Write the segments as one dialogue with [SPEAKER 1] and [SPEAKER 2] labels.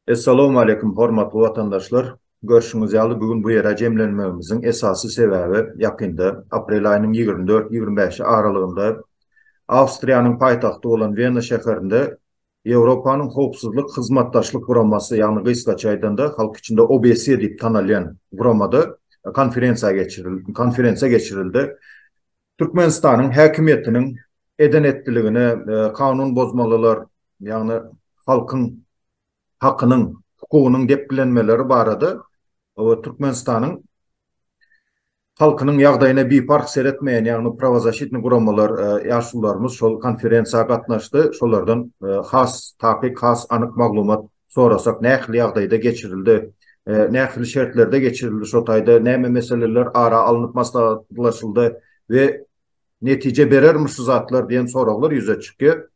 [SPEAKER 1] Essalowmaleýkum hormatly watandaşlar! Görşüňiz ýaly bu gün bu ýere jemlenmegimiziň esasy sebäbi ýakynda, aprel aýynyň ýigrimi dört, ýigrimi bäşi aralygynda Awstriýanyň paýtagty bolan Wena şäherinde Ýewropanyň Howpsuzlyk Hyzmatdaşlyk Guramasy, ýagny gysgaça aýdanda, halk içinde OBSE diýip tanalýan guramada konferensiýa geçirildi. Türkmenistanyň häkimiýetiniň eden-etdiligine, kanun bozmalylar, ýagny halkyň hakynyň, hukugynyň depgilenmeleri barada Türkmenistanyň halkynyň ýagdaýyna biparh seretmeýän, ýagny prawozasitni guramalar, ýaşulularymyz şol konferensiýa gatnaşdy. Şolardan has takyk, has anyk maglumat sorasak, nähili ýagdaýda geçirildi, nähili şertlerde geçirildi, şo taýda näme meseleler ara alnyp maslahatlaşyldy we netije berermi şu zatlar diýen soraglar ýüze çykýar.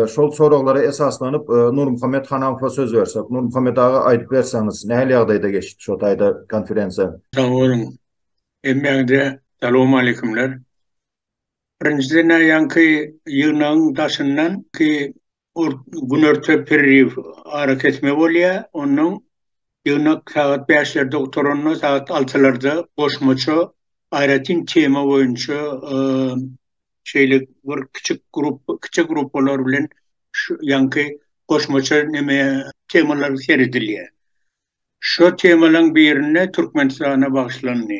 [SPEAKER 1] Şol soraglara esaslanyp Nurmuhammet Hanafowa söz bersek. Nurmuhammet aga aýdyp berseňiz, nähili ýagdaýda geçdi şo taýda konferensiýa? Sag boluň. Hemmäňize salowmaleýkumler. Birinjiden aýaňky ýygnagyň daşyndan ki Günorta perriw arakesme bolýar. Ondan ýygnak sagat bäşlerde gutaranda, sagat altylarda goşmaça aýratyn tema boýunça şeýle bir kiçi grup, kiçi gruppalar bilen şu ýaňky goşmaça neme temalar seredilýär. Şu temalaryň birinde Türkmenistana bagyşlandy.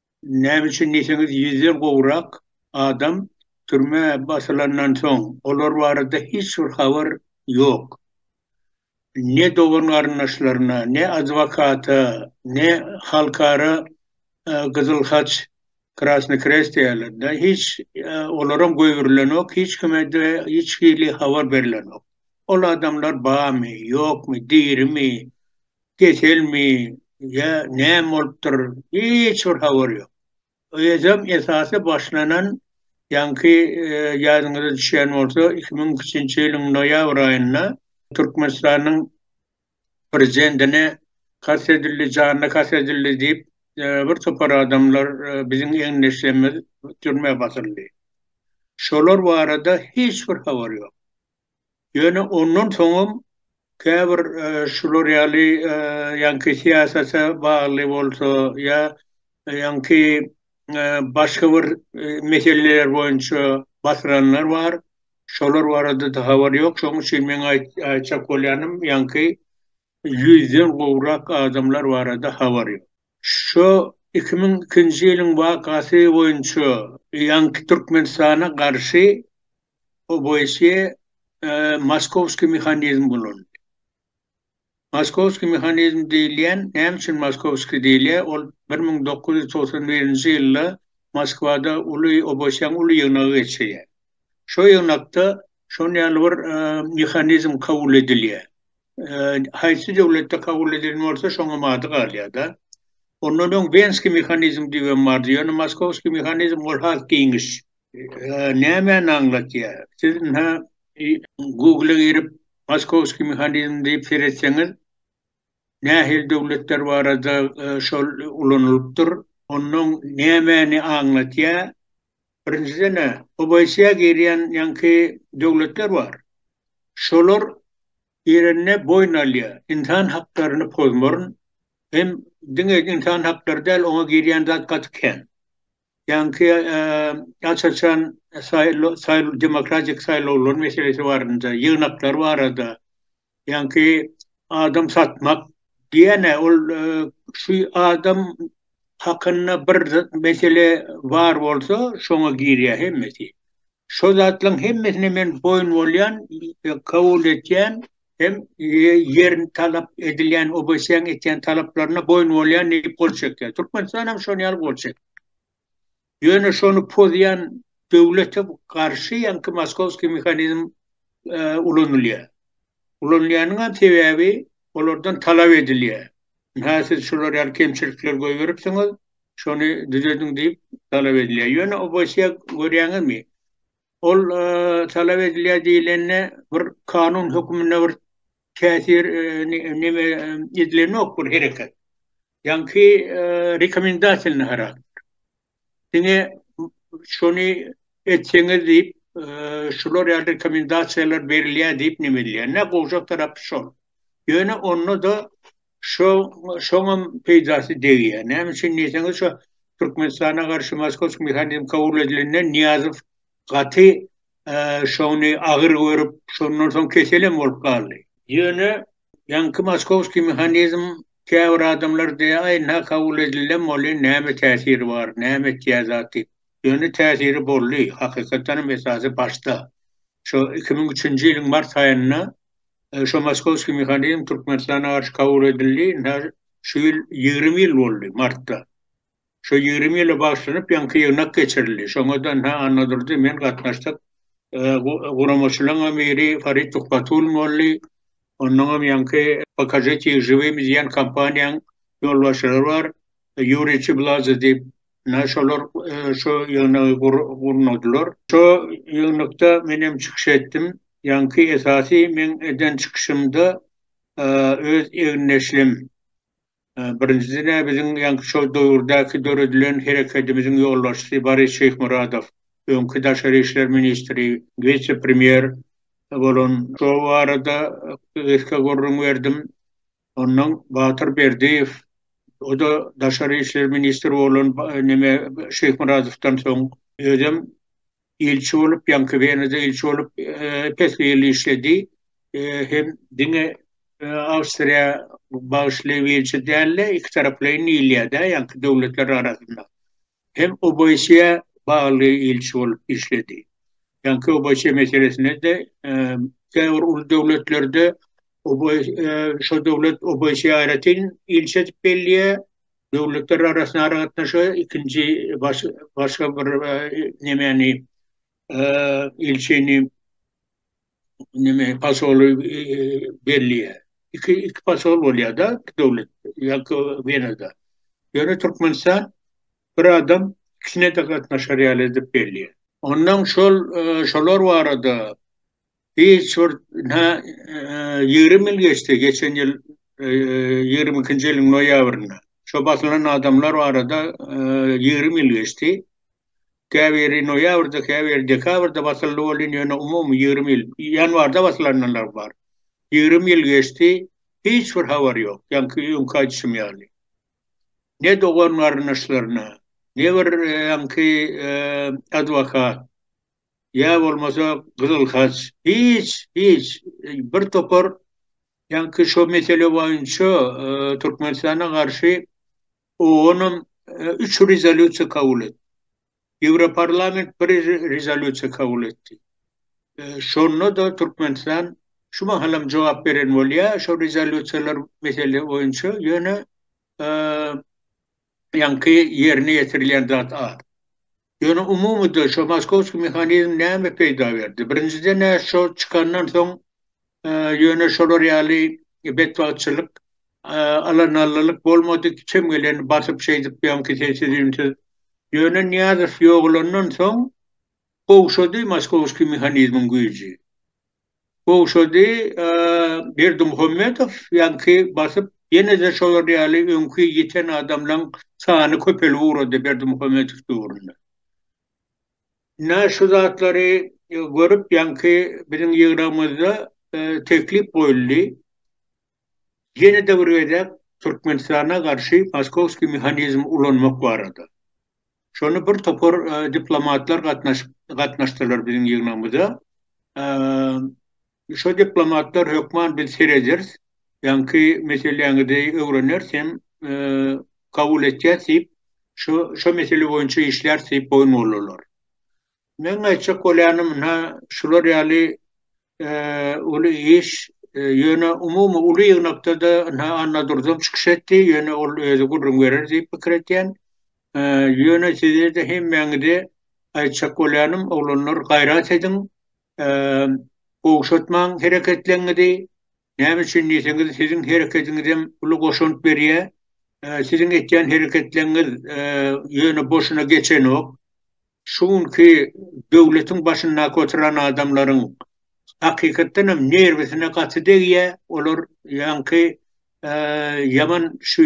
[SPEAKER 1] Näme üçin diýseňiz, ýüzden gowrak adam türmä basylandan soň, olar barada hiç bir habar ýok. Ne dogan-garyndaşlaryna, ne adwokata, ne halkara Gyzyl Haç, Krasny Krest diýýärler-de, hiç olaram goýberilenok, hiç kime-de hiç hili habar berilenok. Ol adamlar barmy, ýokmy, dirimi, keselmi ýa näme bolupdyr hiç bir habar ýok. Özem esasy başlanan ýaňky ýadyňyza düşýän bolsa iki müň ikkinji ýylyň noýabr aýynda Türkmenistanyň prezidentine kast edildi janyna kast edildi diýip bir topar adamlar biziň egindeşlerimiz türmä basyldy. Şolar barada hiç bir habar ýok. Ýöne ondan soňam käbir şular ýaly ýaňky syýasata bagly bolsa ýa ýaňky başga bir meseleler boýunça basyranlar bar. Şolar barada-da habar ýok. Şonuň üçin meň aýtjak bolýanym ýaňky ýüzden gowrak adamlar barada habar ýok. Şu iki müň ikinji ýylyň wakasy boýunça ýaňky Türkmenistana garşy Oboýsýe Moskowskiý mehanizm bolan. Moskowskiý mehanizm diýilýän, näme üçin Moskowskiý diýilýär? Ol bir müň dokuz ýüz togsan birinji ýylda Moskwada uly Oboýsýäň uly ýygnagy geçýär. Şo ýygnakda şon ýaly bir mehanizm kabul edilýär. Haýsy döwletde kabul edilen bolsa, şoňam ady galýar-da. Ondan öň Wenskiý mehanizm diýibem bardy. Ýöne Moskowskiý mehanizm ol has giňiş. Nämäni aňlatýar? Siz ynha Google-a girip Moskowskiý mehanizm diýip seretseňiz, nähili döwletler barada şol ulanylypdyr, ondan nämäni aňlatýar? Birinjiden-ä OBSE-a girýän ýaňky döwletler bar. Şolar girende boýun alýar. Ynsan haklaryny pozmaryn. Hem diňe ynsan haklary däl, oňa girýän zat gaty kän. Ýaňky aç-açan saýlaw demokratik saýlawlar meselesi barada, ýygnaklar barada, ýaňky adam satmak diýen-ä ol şu adam hakynda bir mesele bar bolsa şoňa girýär hemmesi. Şo zatlaryň hemmesine men boýun bolýan, kabul etýän, hem ýerini talap edilýän OBS-iň etýän talaplaryna boýun bolýan diýip gol çekýär. Türkmenistan hem şonuň ýaly gol çekdi. Ýöne şony pozýan döwlete garşy ýaňky moskowskiý mehanizm e, ulanylýar. Ulanylýanyň hem sebäbi olardan talap edilýär. Ha siz şular ýaly kemçilikler goýberipsiňiz, şony düzediň diýip talap edilýär. Ýöne OBS-e görýäňizmi? Ol talap edilýär diýlende bir kanun hökmünde bir täsir neme edilenok bir hereket. Ýaňky rekomendasiýaly harakter. Diňe şony etseňiz diýip, şular ýaly rekomendasiýalar berilýär diýip neme edilýär. Nä gowjak tarapy şol. Ýöne onda-da Şo şoňam peýdasy degýär. Näme üçin diýseňiz, şo Türkmenistana garşy Moskowski mehanizm kabul edilenden Nyýazow gaty şony agyr görüp, şondan soň keselem bolup galdy. Ýöne ýaňky Moskowski mehanizm käbir adamlar diýýär, aý nä kabul edildem bolýar, näme täsiri bar, näme etýär zat diýip. Ýöne täsiri boldy, hakykatdanam esasy başda. Şo iki müň üçünji ýylyň mart aýynda Şo moskowskiý mehanizm Türkmenistana garşy kabul edildi. Ine, şu ýyl ýigrimi ýyl boldy, martda. Şo ýigrimi ýyla bagyşlanyp ýaňky ýygnak geçirildi. Şoňa-da, ynha, Annadurdy, men gatnaşdyk. Guramaçylaryňam biri Farid Tuhbatullin boldy. Onnoňam ýaňky Pokažite ih žywimi diýen kompaniýanyň ýolbaşçylary bar. Ýuriý Çiblazze diýip, Ine şolar şu ýygnagy gurnadylar. Şu ýygnakda men hem çykyş etdim. Ýaňky esasy men eden çykyşymda öz egin-neşlim birinjiden-ä biziň ýaňky şo döwürdäki döredilen herekedimiziň ýolbaşçysy Boris Şyhmyradow, öňki daşary işler ministri, wise-premýer bolan şo barada gysga gürrüň berdim. Ondan Batyr Berdiýew, o-da daşary işler ministri bolan neme Şyhmyradowdan soň, özem ilçi bolup, ýaňky Wenada ilçi bolup epesli ýyl işledi. Hem diňe Awstriýa bagyşly ilçi däl-de, ikitaraplaýyn diýilýär-dä ýaňky döwletler arasynda. hem OBSE-ä bagly ilçi bolup işledi. Ýaňky OBSE meselesinde-de käbir uly döwletlerde şo döwlet OBSE-ä aýratyn ilçi edip belleýär, döwletler arasynda aragatnaşyga ikinji başga bir nemäni ilçini neme pasoly belliýe. Iki, iki pasol bolýar da iki döwlet ýa-da Wenada. Ýöne Türkmenistan bir adam ikisine de gatnaşar ýaly edip belliýe. Ondan şol şolar barada Biz şurt na ýigrimi ýyl geçdi, geçen ýyl ýigrimi ikinji ýylyň noýabrynda. Şo basylan adamlar barada ýigrimi ýyl geçdi. Käbiri noýabrda, käbiri dekabrda basyldy welin, ýöne umumy ýigrimi ýyl, ýanwarda basylanlar bar. Ýigrimi ýyl geçdi, hiç bir habar ýok. Ýaňky öňki aýdyşym ýaly. Ne dogan-garyndaşlaryna, ne bir ýaňky adwokat. ýa bolmasa Gyzyl Haç hiç hiç bir topar ýaňky şo mesele boýunça Türkmenistana garşy oonam üç rezolýusiýa kabul etdi. Ýewroparlament bir rezolýusiýa kabul etdi. Şonda da Türkmenistan şu mahalam jogap beren bolýa şo rezolýusiýalar mesele boýunça ýöne ýaňky ýerine ýetirilýän zat az. Ýöne umumyda şo moskowskiý mehanizm näme peýda berdi? Birinjiden-ä şo çykandan soň ýöne şolar ýaly betbagtçylyk, alanallylyk bolmady, kim geleni basyp şeýdip ýaňky sessiz-üýnsüz. Ýöne Nyýazow ýogalandan soň gowşady moskowskiý mehanizmiň güýji. Gowşady Berdimuhamedow ýaňky basyp ýene-de şolar ýaly öňki ýiten adamlaň sany köpelip ugrady Berdimuhamedow döwründe. Ine şu zatlary görüp ýaňky biziň ýygragymyzda teklip goýuldy. ýene-de bir gezek Türkmenistana garşy moskowskiý mehanizm ulanmak barada. Şony bir topar diplomatlar gatnaşyp gatnaşdylar biziň ýygnagymyza. Şo diplomatlar hökman biz serederis, ýaňky meseläňizi öwreneris hem kabul etýäs diýip, şo şo mesele boýunça işläris diýip boýun boldular. Meň aýtjak bolýanym ynha şular ýaly uly iş. Ýöne umumy uly ýygnakda-da ynha Annadurdyň çykyş etdi, ýöne ol özi gürrüň berer diýip pikir etýän. Ýöne size-de hemmäňize aýtjak bolýanym, oglanlar, gaýrat ediň, gowşatmaň hereketleriňizi. Näme üçin diýseňiz, siziň hereketiňizem uly goşant berýär. Siziň etýän hereketleriňiz ýöne boşuna geçenok. Şu günki döwletiň başyndaky oturan adamlaryň hakykatdan hem nerwisine gaty degýär, olar ýaňky ýaman şu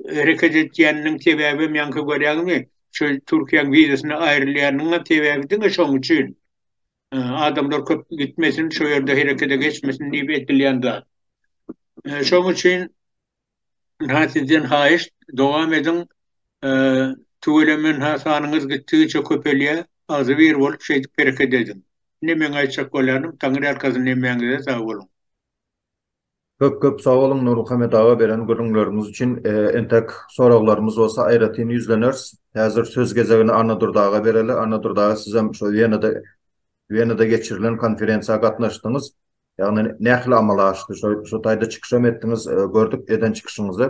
[SPEAKER 1] hereket etýäniniň sebäbi hem ýaňky görýäňizmi şu Türkiýäň wizasyna aýrylýanynyň hem sebäbi diňe şoň üçin adamlar köp gitmesin şu ýerde herekede geçmesin diýip edilýän zat. Şoň üçin Ynha sizden haýyşt dowam ediň tüweleme ynha sanyňyz gitdigiçe köpelýä agzybir bolup şeýdip hereket ediň. Ine meň aýtjak bolýanym Taňry ýalkasyn hemmäňize sag boluň. Köp köp sag boluň Nurmuhammet aga beren gürrüňleriňiz üçin entek soraglarymyz bolsa aýratyn ýüzleners. Häzir söz gezegini Annadurdy aga bereli. Annadurdy aga sizem şo Wenada Wenada geçirilen konferensiýa gatnaşdyňyz. Ýagny nähili amala aşdy? Şo şo taýda çykyşam etdiňiz, gördük eden çykyşyňyzy.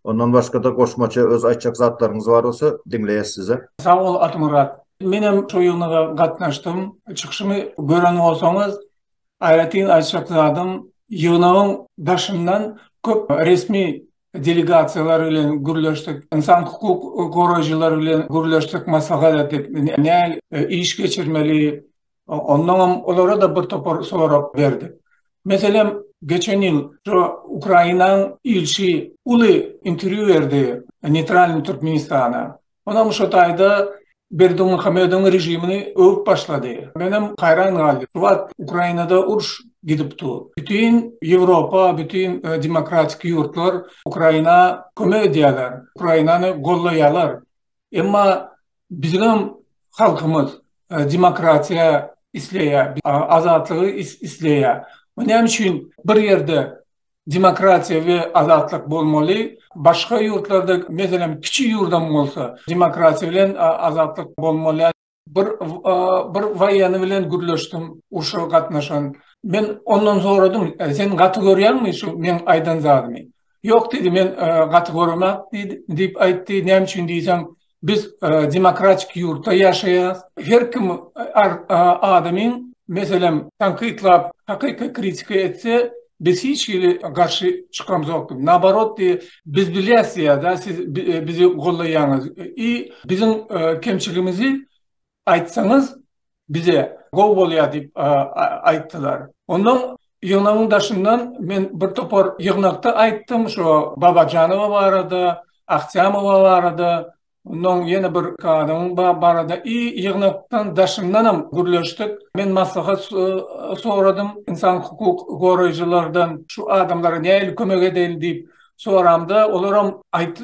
[SPEAKER 1] Ondan başga-da goşmaça öz aýtjak zatlaryňyz bar bolsa diňleýäs sizi. Sag bol Atamyrat. Menem şo ýygnaga gatnaşdym. Çykyşymy gören bolsaňyz, aýratyn aýtjak zadym, ýygnagyň daşyndan köp resmi delegasiýalar bilen gürleşdik, ynsan hukuk goraýjylar bilen gürleşdik, maslahat etdik, nähili iş geçirmeli, Ondanam olara-da bir topar sorag berdik. Meselem, geçen ýyl şu Ukrainanyň ilçi uly interwýu berdi Neýtralnyý Türkmenistana. Onam şu taýda Berdimuhamedowyň režimini öwüp başlady. Menem haýran galdym. Bu wagt Ukrainada uruş gidip dur. Bütin Ýewropa, bütin demokratik ýurtlar Ukraina kömek edýärler, Ukrainany gollaýarlar. Emma biziň hem halkymyz demokratiýa isleýär, azatlygy isleýär. Bu näme üçin bir ýerde demokratiýa we azatlyk bolmaly, başga ýurtlarda, meselem, kiçi ýurdam bolsa demokratiýa bilen azatlyk bolmaly? bir bir waýany bilen gürleşdim, urşa gatnaşan. Men ondan soradym, sen gaty görýäňmi şu men aýdan zadymy? Ýok diýdi, men gaty göremek diýdi, diýip aýtdy. Näme üçin diýsem, biz demokratik ýurtda ýaşaýas. Her kim adamyň meselem tankytlap, hakyky kritika etse, Biz hiç hili garşy çykamzokdyk. Nabarot diye biz bilýäs diýäda siz bizi gollaýaňyz. I biziň kemçiligimizi aýtsaňyz bize gowy bolýar diýip aýtdylar. Ondan ýygnagyň daşyndan men bir topar ýygnakda aýtdym şo Babajanowa barada, Ahtyamowa barada, Ondan ýene bir adamyň ba barada i ýygnakdan daşyndanam gürleşdik. Men maslahat so soradym ynsan hukuk goraýjylardan, şu adamlara nähili kömek edeýin diýip soramda, olaram aýt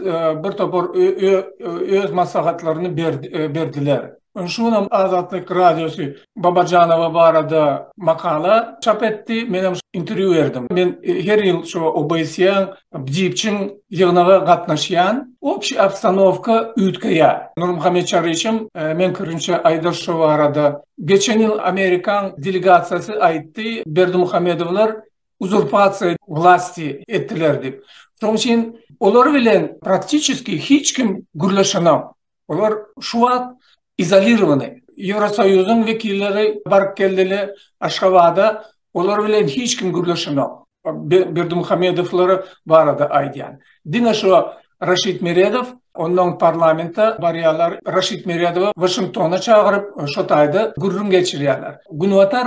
[SPEAKER 1] bir topar ö ö öz maslahatlaryny berdi berdiler. Ony şu gün hem Azatlyk Radiosy Babajanowa barada makala çap etdi. Men hem interwýu berdim. Men her ýyl şu OBSE-iň BDIPC-iň ýygnaga gatnaşýan. Obşi obstanowka üýtgeýär. Nurmuhammet Çaryşym meň pikirimçe Aýdaş şu barada geçen ýyl Amerikan delegasiýasy aýtdy, Berdimuhamedowlar uzurpasiýa wlasti etdiler diýip. Şoň üçin olar bilen praktiçeski hiç kim gürleşenok. Olar şu wagt izolirowany. Ýewrosoýuzyň wekilleri baryp geldile Aşgabada, olar bilen hiç kim gürleşenok. Berdimuhamedowlar barada aýdýan. Diňe şu Raşid Meredow, onnoň parlamente barýarlar. Raşid Meredowy Waşingtona çagyryp, şo taýda gürrüň geçirýärler. Günbatar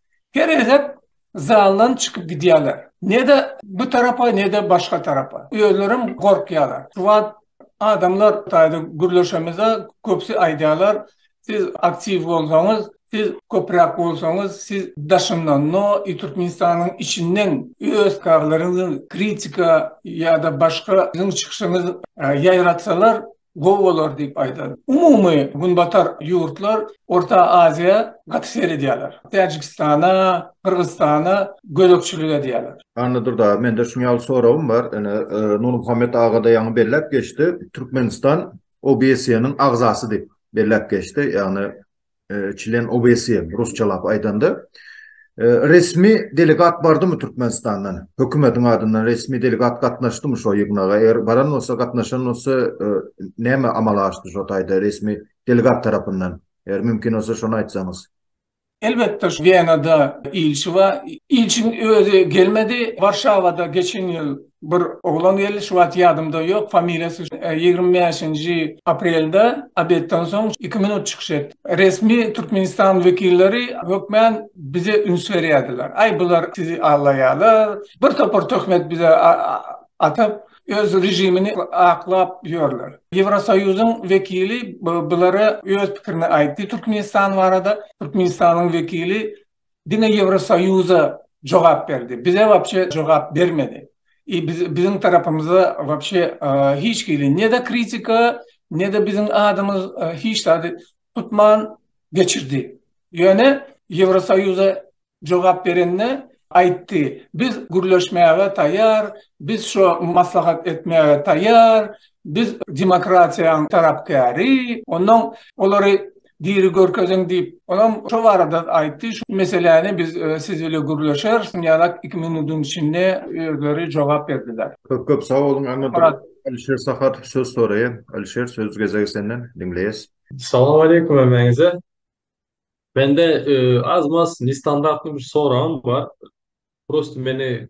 [SPEAKER 1] Her gezek zaldan çykyp gidýärler. Ne-de bu tarapa, ne-de başga tarapa. Özlerem gorkýarlar. Şu wagt adamlar taýda gürleşemizde, köpüsi aýdýarlar, Siz aktiw bolsaňyz, siz köpräk bolsaňyz, siz daşyndan, no i Türkmenistanyň içinden öz karlaryňyzy kritika ýa-da başga siziň çykyşyňyzy ýaýratsalar, gowy bolar diýip aýdan. Umumy Günbatar ýurtlar Orta Aziýa gaty seredýärler. Täjigistana, Gyrgyzystana gözegçilik edýärler. Anna Durdawa, mende şuň ýaly soragym bar. Ine, Nurmuhammet aga-da ýaňy belläp geçdi. Türkmenistan OBSE-niň agzasydyp belläp geçdi. Ýagny, Çlen OBSE, rusçalap aýdanda. Resmi delegat bardymy Türkmenistandan? Hökümetiň adyndan resmi delegat gatnaşdymy şo ýygnaga? Eger baran bolsa, gatnaşan bolsa, näme amala aşdy şo taýda resmi delegat tarapyndan? Eger mümkin bolsa, şony aýtsaňyz. Elbetde, Wenada ilçi bar. Ilçiniň özi gelmedi. Warşawada geçen ýyl bir oglan geldi, şu wagt ýadymda ýok, familiýasy ýigrimi bäşinji aprelde obedden soň iki minut çykyş etdi. Resmi Türkmenistan wekilleri hökmän bize üns berýärdiler. Aý, bular sizi aldaýarlar, bir topar töhmet bize atyp, öz režimini aklap ýörler. Ýewrosoýuzyň wekili bulara öz pikirini aýtdy Türkmenistan barada. Türkmenistanyň wekili Diňe Ýewrosoýuza jogap berdi. Bize wapşe jogap bermedi. I biziň tarapymyza wapşe hiç hili ne-de kritika, ne-de biziň adymyz hiç zady tutman geçirdi. Ýöne Ýewrosoýuza jogap berende aýtdy, biz gürleşmäge taýýar, biz şo maslahat etmäge taýýar, biz demokratiýanyň tarapkäri, onnoň olary Diri görkeziň diýip, olam şo barada aýtdy. Şu meseläni biz siz bile gürleşeris. Ýalak iki minudyn içinde özleri jogap berdiler. Köp köp sag boluň Anna Murat. Alişer Sahatow söz soraýar. Alişer söz gezegi senden diňleýäs. Salam aleýkum hemmäňize. Mende az maz nestandartly bir soragym bar. Prosto meni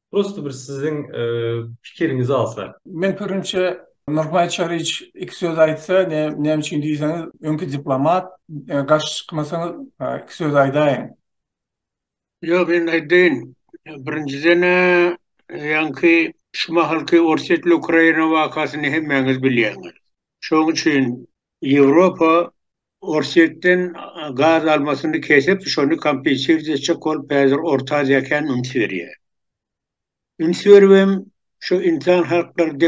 [SPEAKER 1] Prosto bir siziň pikiriňizi alsak. Men pikirimçe Nurbaý Çariç iki söz aýtsa, näme üçin diýseňiz, öňki diplomat, garşy çykmasaňyz iki söz aýdaýyň. Ýok, men aýdaýyn. Birinjiden, ýaňky şu mahalky Orsýetli Ukraina wakasyny hemmäňiz bilýäňiz. Şonuň üçin Ýewropa Orsýetden gaz almasyny kesip, şony kompensir etjek bolup häzir Orta Aziýa kän üns berýär. Üns beribem şu insan haklary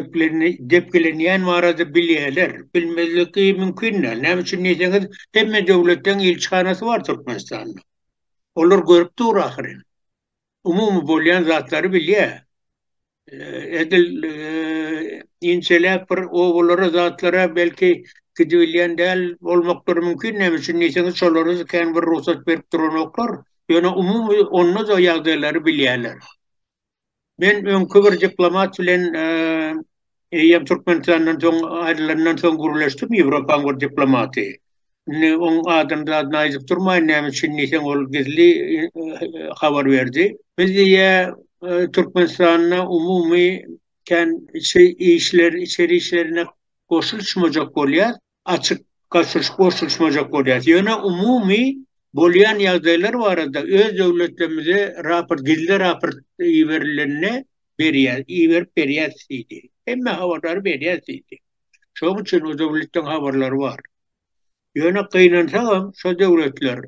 [SPEAKER 1] depgilenýän barada bilýärler. Bilmezligi mümkin däl. Näme üçin diýseňiz, hemme döwletden ilçihanasy bar Türkmenistanda. Olar görüp dur ahyryn. Umumy bolýan zatlary bilýär. edil inçeläp bir obalara zatlara belki gidibilýän däl bolmaklary mümkin näme üçin diýseňiz şolara kän bir rugsat berip duranoklar ýöne umumy onda da ýagdaýlary bilýärler men öňki bir diplomat bilen eýýäm türkmenistandan soň aýrylandan soň gürleşdim ýewropaň bir diplomaty Indi oň adamzadyny aýdyp durmaýyn näme üçin diýseň ol gizli habar berdi. Biz diýýä Türkmenistanda umumy kän içi işler içeri işlerine goşulşmajak bolýar, açyk goşulyş goşulşmajak bolýar. Ýöne umumy bolýan ýagdaýlar barada öz döwletlerimize raport gizli raport iberilende berýär iberip berýäs diýdi. Hemme habarlary berýäs diýdi. Şoň üçin o döwletleriň habarlary bar. Ýöne gynansagam şo döwletler,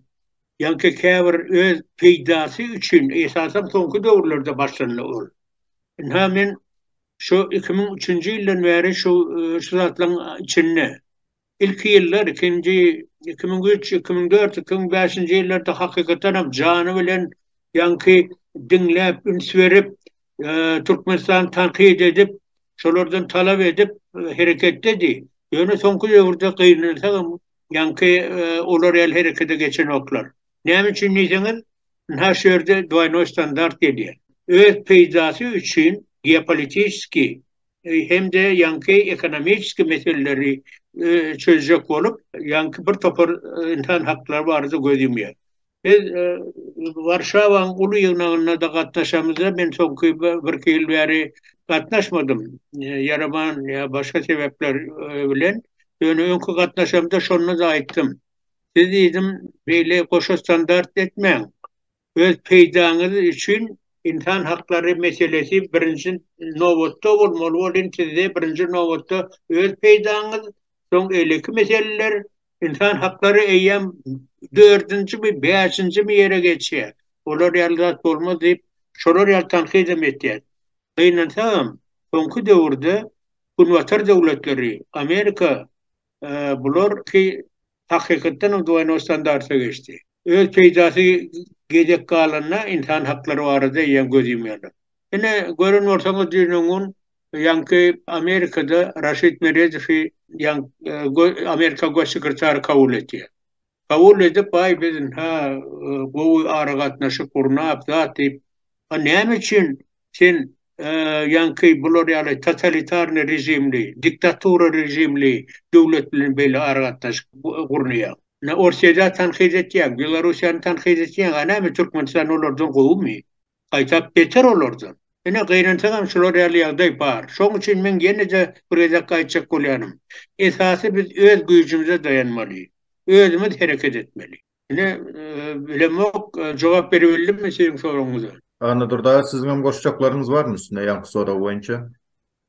[SPEAKER 1] ýaňky käbir öz peýdasy üçin, esasan soňky döwürlerde başlandy ol. Ynha men şu iki müň üçünji ýyldan bäri şu şu zatlaryň içinde, ilki ýyllar, ikinji, iki müň üç, iki müň dört, iki müň bäşinji ýyllarda hakykatan hem jany bilen ýaňky diňläp, üns berip, Türkmenistany tankyt edip, şolardan talap edip hereketdedi. Ýöne soňky döwürde gynansagam ýaňky olar ýaly herekete geçenoklar. Näme üçin diýseňiz, ynha şu ýerde dwaýnoý standart gelýär. Öz peýdasy üçin geopolitiski hem-de ýaňky ekonomiski meseleleri çözjek bolup, ýaňky bir topar ynsan haklary barada göz ýumýar. Biz Warşawaň uly ýygnagyna-da gatnaşamyz-da, men soňky birki ýyl bäri gatnaşmadym, ýaraman ýa başga sebäpler bilen, ýöne öňki gatnaşamda şonda-da aýtdym. Siz diýdim, beýle goşa standart etmäň, öz peýdaňyz üçin ynsan haklary meselesi birinji nobatda bolmaly, ol indi sizde birinji nobatda öz peýdaňyz, soň eýleki meseleler, Ynsan haklary eýýäm dördünjimi, bäşinjimi ýere geçýär. Olar ýaly zat bolmaz diýip, şolar ýaly tankytym etýär. Gynansagam, soňky döwürde Günbatar döwletleri, Amerika bular ki hakykatdanam dwoýnoý standarta geçdi. Öz peýdasy gezek galanda ynsan haklary barada eýýäm göz ýumýarlar. Ine, gören bolsaňyz düýnüň gün Ýaňky Amerikada Raşid Meredowy ýaň Amerika goş sekretary kabul etýär. Kabul edip, aý biz ha gowy aragatnaşyk gurnap, zat diýip, a näme üçin sen ýaňky bular ýaly totalitarny režimli, diktatura režimli döwlet bilen beýle aragatnaşyk gurnaýaň? Orsýeti tankyt etýäň, Belorussiýany tankyt etýäň, a näme Türkmenistan olardan gowymy? gaýtap beter olardan. Ine, gynansaňam şular ýaly ýagdaý bar. Şoň üçin men ýene-de bir gezek aýtjak bolýanym, esasy biz öz güýjümize daýanmaly, özümiz hereket etmeli. Ine, bilemok, jogap beribildimmi siziň soragyňyza? Annadurdy aga, siziňem goşjaklaryňyz barmy üstüne ýaňky sorag boýunça?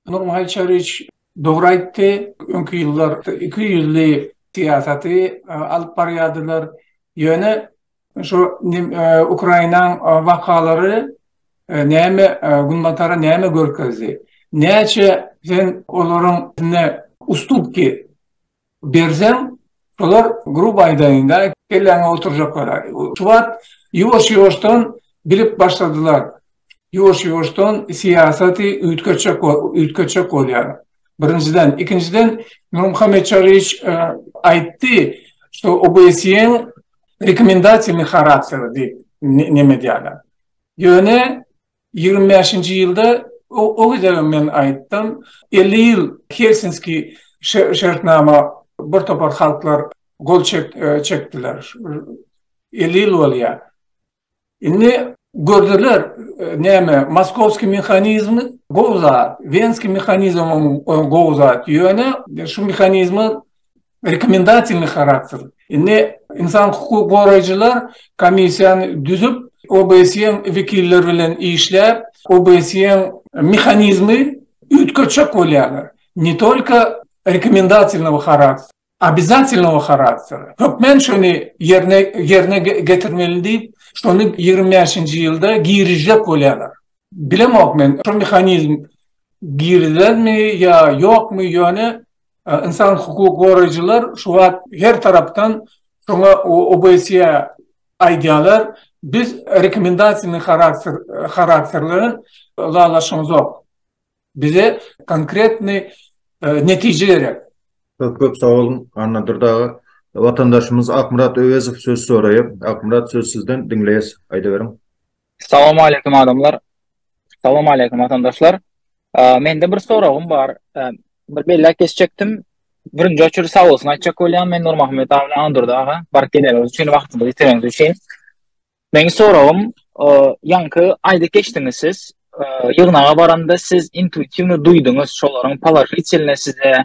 [SPEAKER 1] Nurmyhaýyt Çaryýewiç dogry aýtdy. Öňki ýyllar iki ýüzli syýasaty alyp barýardylar. Ýöne şu Ukrainanyň wakalary näme Günbatara näme görkezdi? Näçe sen olaryň üstünki Berseň, olar gruba aýdaýynda, kelläňe oturjaklar. Şu wagt ýuwaş-ýuwaşdan bilip başladylar. Ýuwaş-ýuwaşdan syýasaty üýtgetjek üýtgetjek bolýar. Birinjiden, ikinjiden Nurmuhammet Çaryýewiç aýtdy, şu OBSE-iň rekomendasiýaly harakteri diýip neme edýärler. Ýöne Ýigrimi bäşinji ýylda o gezegem men aýtdym, elli ýyl Helsinski şertnama bir topar halklar gol çekdiler. Elli ýyl bolýar. Indi gördüler näme moskowski mehanizmi gowy zat, wenski mehanizmem gowy zat, ýöne şu mehanizmi rekomendasyjny harakter. Indi ynsan hukuk goraýjylar komissiýany düzüp, OBSE-iň wekilleri bilen işläp, OBSE-iň mehanizmi üýtgetjek bolýarlar. Ne tolko rekomendasyjnyň harakter, obýazatylnyň harakter. Hökmän şony ýerine ýerine getirmeli diýip, şony ýigrimi bäşinji ýylda girizjek bolýarlar. Bilemok men, şu mehanizm girilermi ýa ýokmy, ýöne Ynsan hukuk goraýjylar şu wagt her tarapdan şoňa OBSE-ä aýdýarlar, biz rekomendasyony harakterli ylalaşamzok. Bize konkretny netije gerek. Köp köp sag boluň Anna Dürdaga. Watandaşymyz Akmyrat Öwezow söz soraýar. Akmyrat söz sizden diňleýäs. Aýdyberiň. Salam aleýkum adamlar. Salam aleýkum watandaşlar. Mende bir soragym bar. Bir belläp geçjekdim. Birinji oçur sag bolsun aýtjak bolýan. Men Nurmuhammet abi bilen Andurdy aga. Baryp geleniňiz üçin wagtyňyzy itireniňiz üçin. Meniň soragym, ýaňky aýdyp geçdiňiz siz. Ýygnaga baranda siz intuitiwno duýduňyz şolaryň položitelne size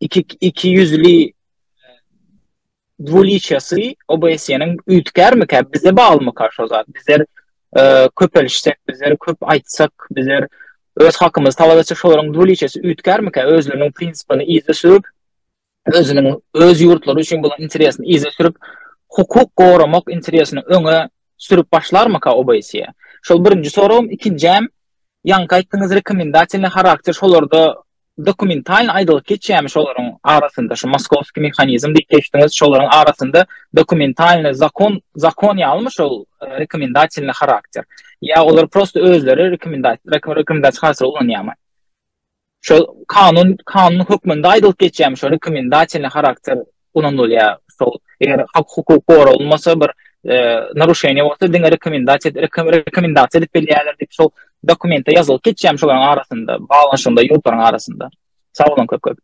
[SPEAKER 1] iki iki ýüzli dwuliçýasy OBS-niň üýtgärmika bize baglymyka şo zat bizler e, köpelişsek bizler köp aýtsak bizler öz hakymyzy talap etsek şolaryň dwuliçýasy üýtgärmika özleriniň prinsipini yza sürüp özüniň öz ýurtlary üçin bolan interesini yza sürüp hukuk goramak interesini öňe sürüp başlarmyka OBS? Şol birinji soragym, ikinjäm ýaňky aýtdyňyz rekomendatiýny harakter şolarda Dokumentalny aýdylyp geçýämi şolaryň arasynda şu moskowskiý mehanizm diýip geçdiňiz şolaryň arasynda dokumentalny zakon zakon ýalymy şol rekomendatilny harakter ýa olar prosta özleri rekomendasiýa hasap ulanýarmy şol kanun kanun hökmünde aýdylyp geçýämi şo rekomendatilny harakter ulanylýar. Şol eger hak hukuk goralmasa bir e, naruşeniýe bolsa diňe rekomendasiýa rekomendasiýa edip bilýärler diýip şol dokumente ýazylyp geçýär şolaryň arasynda, baglanyşygynda ýurtlaryň arasynda. Sag boluň köp köp.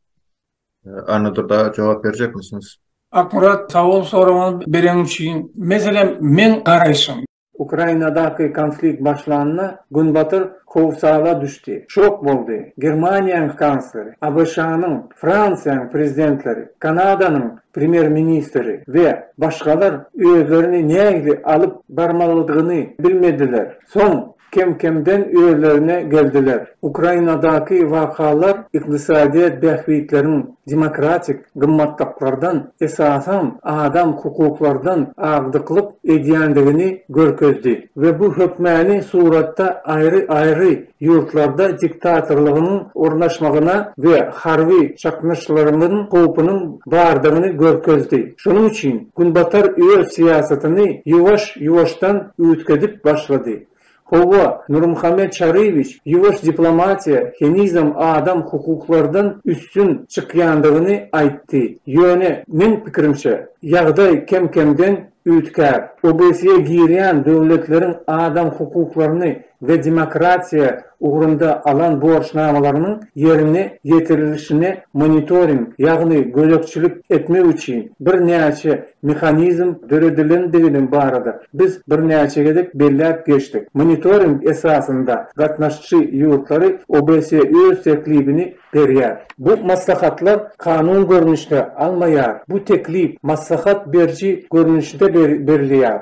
[SPEAKER 1] E, Annadur da jogap berjekmisiniz? Akkurat sag bol soragyňy bereň üçin. Meselem, men garaýşym. Ukrainadaky konflikt başlanda Günbatar howsala düşdi, şok boldy. Germaniýanyň kansleri, ABŞ-nyň, Fransiýanyň prezidentleri, Kanadanyň premýer-ministri we başgalar özlerini nähili alyp barmalydygyny bilmediler. Soň kem-kemden özlerine geldiler. Ukrainadaky wakalar ykdysadyýet bähbitleriň demokratik gymmatlyklardan, esasan, adam hukuklardan agdyklyk edýändigini görkezdi we bu hökmäni suratda aýry-aýry ýurtlarda diktatorlygyň ornaşmagyna we harby çaknyşlaryň howpunyň bardygyny görkezdi. Şonuň üçin Günbatar öz syýasatyny ýuwaş-ýuwaşdan üýtgedip başlady. Hawa, Nurmuhammet Çaryýewiç, ýuwaş diplomatiýa henizem adam hukuklardan üstün çykýandygyny aýtdy. Ýöne, meň pikirimçe, ýagdaý kem-kemden üýtgär. OBSE-e girýän döwletleriň adam hukuklaryny we demokratiýa ugrunda alan borçnamalarynyň ýerine ýetirilişine monitoring, ýagny gözegçilik etmek üçin birnäçe mehanizm döredilendigini barada biz birnäçe gezek belläp geçdik. Monitoring esasynda gatnaşyjy ýurtlary OBSE öz teklibini berýär. Bu maslahatlar kanun görnüşde almaýar, bu teklip maslahat beriji görnüşde berilýär.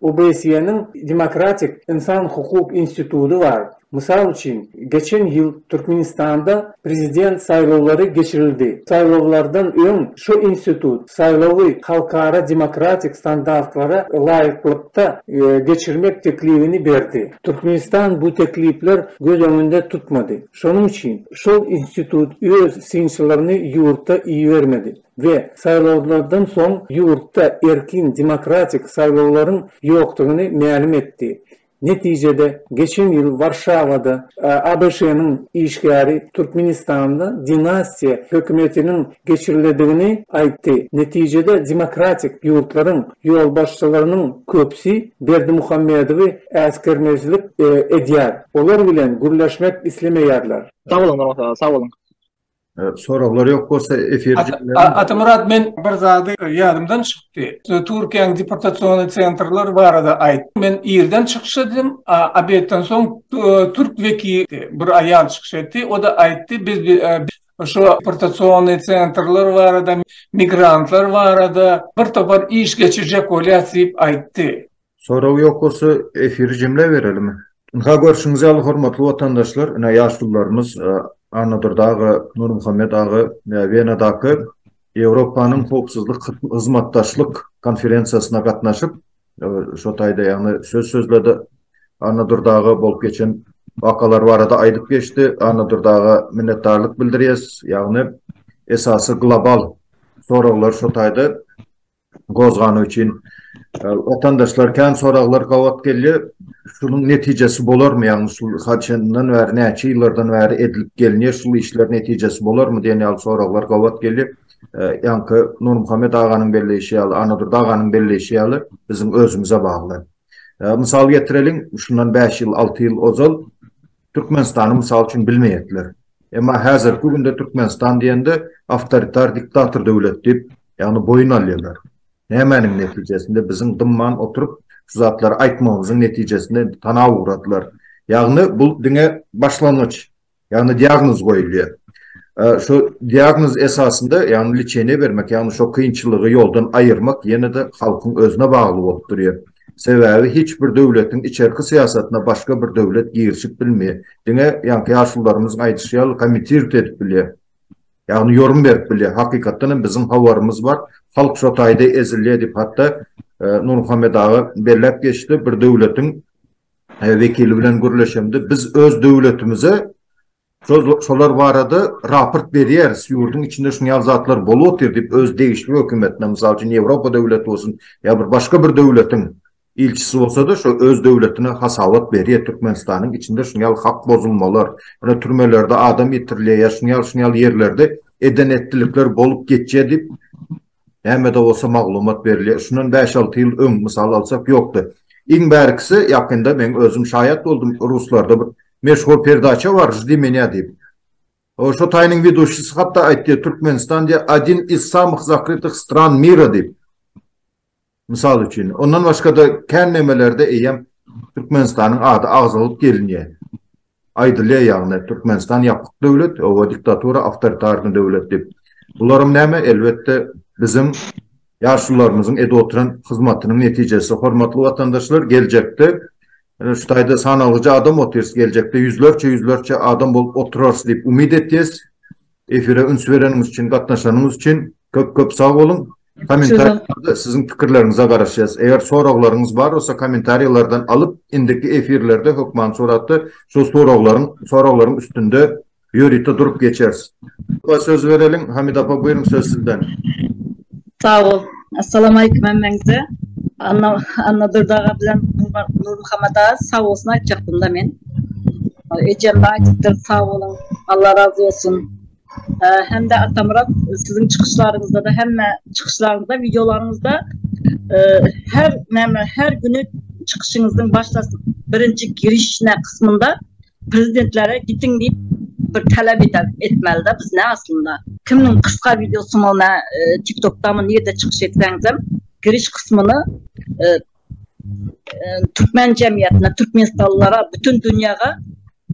[SPEAKER 1] OBSE-niň Demokratik ynsan hukuk instituty bar. Mysal üçin, geçen ýyl Türkmenistanda prezident saýlawlary geçirildi. Saýlawlardan öň şu institut saýlawy halkara demokratik standartlara laýyklykda geçirmek teklibini berdi. Türkmenistan bu teklipler göz öňünde tutmady. Şonuň üçin şol institut öz synçylaryny ýurta ibermedi. we saýlawlardan soň ýurtda erkin demokratik saýlawlaryň ýokdugyny mälim etdi. Netijede, geçen ýyl Warşawada ABŞ-nyň işgäri Türkmenistanda dinastiýa hökümetiniň geçiriledigini aýtdy. Netijede demokratik ýurtlaryň ýolbaşçylarynyň köpüsi Berdimuhamedowy äsgermezlik edýär. Olar bilen gürleşmek islemeýärler. Sag boluň Nurmyrat aga, sag boluň. Soraglar ýok bolsa efir Atamyrat men bir zady ýadymdan çykdy. Türkiýäň deportasion sentrler barada aýt. Men irden çykyş etdim. Obedden soň türk wekili bir aýal çykyş etdi. O da aýtdy biz şu deportasion sentrler barada migrantlar barada bir topar iş geçirjek bolýas diýip aýtdy. Sorag ýok bolsa efiri jemläp berelimi? Ynha görşüňiz ýaly hormatly watandaşlar ine ýaşulularymyz Annadurdy aga, Nurmuhammet aga we Wenadaky Ýewropanyň howpsuzlyk hyzmatdaşlyk konferensiýasyna gatnaşyp şo taýda ýagny söz sözledi. Annadurdy aga bolup geçen wakalar barada aýdyp geçdi. Annadurdy aga minnetdarlyk bildirýäs. Ýagny esasy global soraglar şo taýda gozgany üçin watandaşlar kän soraglar gabat gelýär. Şunuň netijesi bolarmy? Ýagny şu haçandan bäri, näçe ýyllardan bäri edilip gelinýär, şul işler netijesi bolarmy diýen ýaly soraglar gabat gelýär. Ýaňky Nurmuhammet aganyň belleýşi ýaly, Annadurdy aganyň belleýşi ýaly, biziň özümize bagly. Mysal getireliň, şundan bäş ýyl, alty ýyl ozal, Türkmenistany mysal üçin bilmeýärdiler. Emma häzirki günde Türkmenistan diýende awtoritar diktator döwlet diýip, ýagny boýun alýarlar. Nämäniň netijesinde? Biziň dymman oturyp şu zatlary aýtmagymyzyň netijesinde indi tana ugradylar. Ýagny bu diňe başlangyç. Ýagny diagnoz goýulýar. Şu diagnoz esasynda ýagny lçeniýe bermek, ýagny şu kynçylygy ýoldan aýyrmak ýene-de halkyň özüne bagly bolup durýar. Sebäbi hiç bir döwletiň içerki syýasatyna başga bir döwlet girişip bilmeýär. Diňe ýaňky ýaşulylarymyzyň aýdyşy ýaly komitirt edip bilýär. Ýagny ýorun berip bilýär. Hakykatdan hem biziň habarymyz bar. Halk şo taýda ezilýär diýip hatda Nurmuhammet aga belläp geçdi. Bir döwletiň wekili bilen gürleşemde biz öz döwletimize Şolar barada raport berýäris, ýurduň içinde şuny ýaly zatlar bolup otyr diýip öz degişli hökümetine, mysal üçin Ýewropa döwleti bolsun ýa bir başga bir döwletiň ilçisi bolsada şo öz döwletine hasabat berýär, Türkmenistanyň içinde şuny ýaly hak bozulmalar, ýöne türmelerde adam ýitirilýär ýa şuny ýaly şuny ýaly ýerlerde eden etdilikler bolup geçýär diýip Nämede bolsa maglumat berilýär. Şundan bäş-alty ýyl öň mysal alsak ýokdy. Iň bärkisi ýakynda meň özüm şaýat boldum, ruslarda bir meşhur perdaça bar Ždi meňa diýip. O şo taýynyň weduşisi hatda aýtdy, Türkmenistan diýe, odin iz samyh zakrytych stran mira diýip. Mysal üçin, ondan başga-da kän nemelerde eýýäm Türkmenistanyň ady agzalyp gelinýär. Aýdylýar ýagny Türkmenistan ýapyk döwlet, oba diktatura, awtoritarny döwlet diýip. Bularam näme? Elbetde, biziň ýaşularymyzyň edip oturan hyzmatynyň netijesi. Hormatly watandaşlar, geljekde şu taýda sanalyja adam otyrys, geljekde ýüzlerçe-ýüzlerçe adam bolup oturarys diýip umyt etýäs. Efire üns bereniňiz üçin, gatnaşanyňyz üçin köp köp sag boluň. Kommentariýalarda siziň pikirleriňize garaşýas. Eger soraglaryňyz bar bolsa kommentariýalardan alyp indiki efirlerde hökman suratda şol soraglaryň soraglaryň üstünde ýörite durup geçeris. Söz bereliň Hamida apa buýruň söz sizden. Sag bol. Assalamualeykum hemmeňize. Anna Anna Durdaga bilen Nurmuhammada sag bolsun aýtjakdymda men. Ejem aýdypdyr sag boluň. Allah razy bolsun. Hem-de Atamyrat siziň çykyşlaryňyzda-da hemme çykyşlaryňyzda, wideolaryňyzda her näme, her güni çykyşyňyzyň başda birinji giriş näme kysmynda Prezidentlere gitiň diýip bir talap etmelida biz ne aslynda. Kimiň kysga wideosy mol na tiktokdamy nirde çykyş etseňizem giriş kysmyny türkmen jemgyýetine türkmenistanlylara bütin dünýäge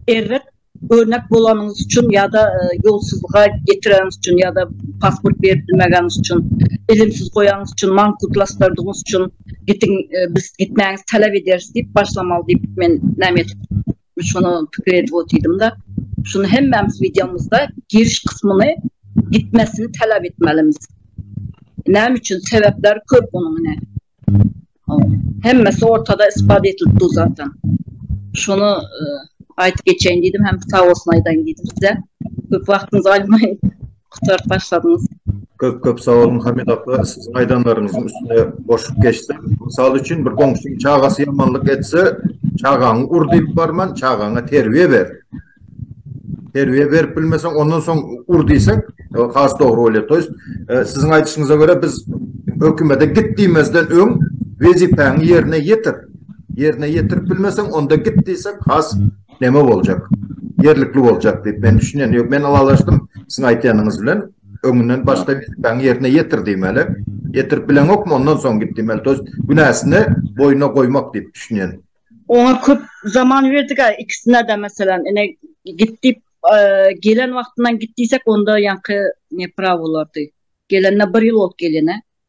[SPEAKER 1] erbet örnek bolanyňyz üçin ýa-da ýolsuzlyga getireniňiz üçin ýa-da pasport berip bilmegeňiz üçin ilimsiz goýanyňyz üçin mankutlaşdyrdygyňyz üçin gitiň biz gitmäňizi talap ederis diýip başlamaly diýip men näme etip şonu pikir edip otyrdym da şunu hemmämiz videomuzda giriş kysmyny gitmesini talap etmelimiz näme üçin sebäpler köp onuň ine hemmesi ortada ispat edilip dur zaten şunu aýdyp geçeýin diýdim hem sag bolsun aýdaýyn diýdim size köp wagtyňyzy almaýyn Gutaryp başladyňyz. Köp köp sag boluň Hamid Akga siziň aýdanlaryňyzyň üstüne goşup geçsem mysal üçin bir goňşyň çagasy ýamanlyk etse çagaňy ur diýip barman çagaňa terbiýe ber terbiýe berip bilmeseň ondan soň ur diýsek has dogry bolýar to ýest e, siziň aýdyşyňyza görä biz hökümete git diýmezden öň wezipäňi ýerine ýetir ýerine ýetirip bilmeseň onda git diýsek has näme boljak? Ýerlikli boljak diýip men düşünýän. Ýok, men ylalaşdym siziň aýtýanyňyz bilen. Öňünden başga wezipäňi ýerine ýetir diýmeli. Ýetirip bileňokmy, ondan soň git diýmeli. Tost günäsini boýnuna goýmak diýip düşünýän. Oňa köp zaman berdik-ä ikisine-de meselem. Ine, git diýip, gelen wagtyndan git diýsek, onda ýaňky neprawy bolardy. Gelenine bir ýyl bolup gelýän-ä.